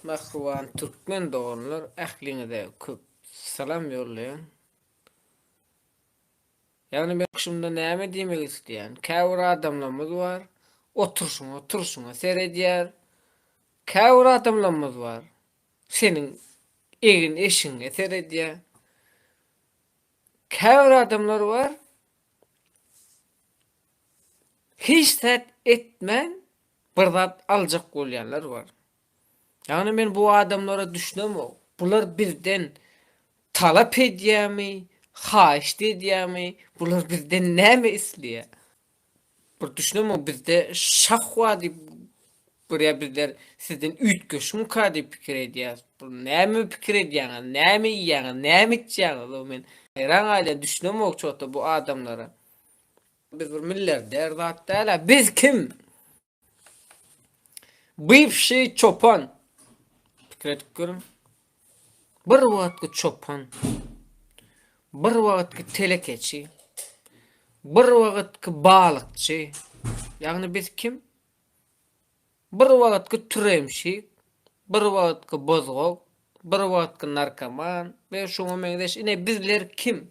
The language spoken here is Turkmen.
Mähriban türkmen doganlar ähliňize köp salam ýollaýan. Ýagny men şunda näme diýmek isleýän, käbir adamlarymyz bar, oturşyňa, turşyňa seredýär. Käbir adamlarymyz bar, seniň egin-eşigiňe seredýär. Käbir adamlar bar, hiç zat etmän bir zat aljak bolýanlar bar. Ýagny men bu adamlara düşünemok. Bular bizden talap edýärmi, haýyşt edýärmi, bular bizden näme isleýär? Bir düşünemok, bizde şah bar diýip görýär bizler sizden üýtgeşimka diýip pikir edýäris. Bu näme pikir edýäňiz, näme iýýäňiz, näme içýäňiz? Men haýran galýan düşünemok çota bu adamlara. Biz bir miller der zat dälä biz kim? Bywşiý çopan. Pikir edip görüň. Bir wagtky çopan. Bir wagtky telekeçi. Bir wagtky balykçy. Ýagny biz kim? Bir wagtky türemşik, bir wagtky bozgak, bir wagtky narkoman we şuňa meňzeş. Ine bizler kim?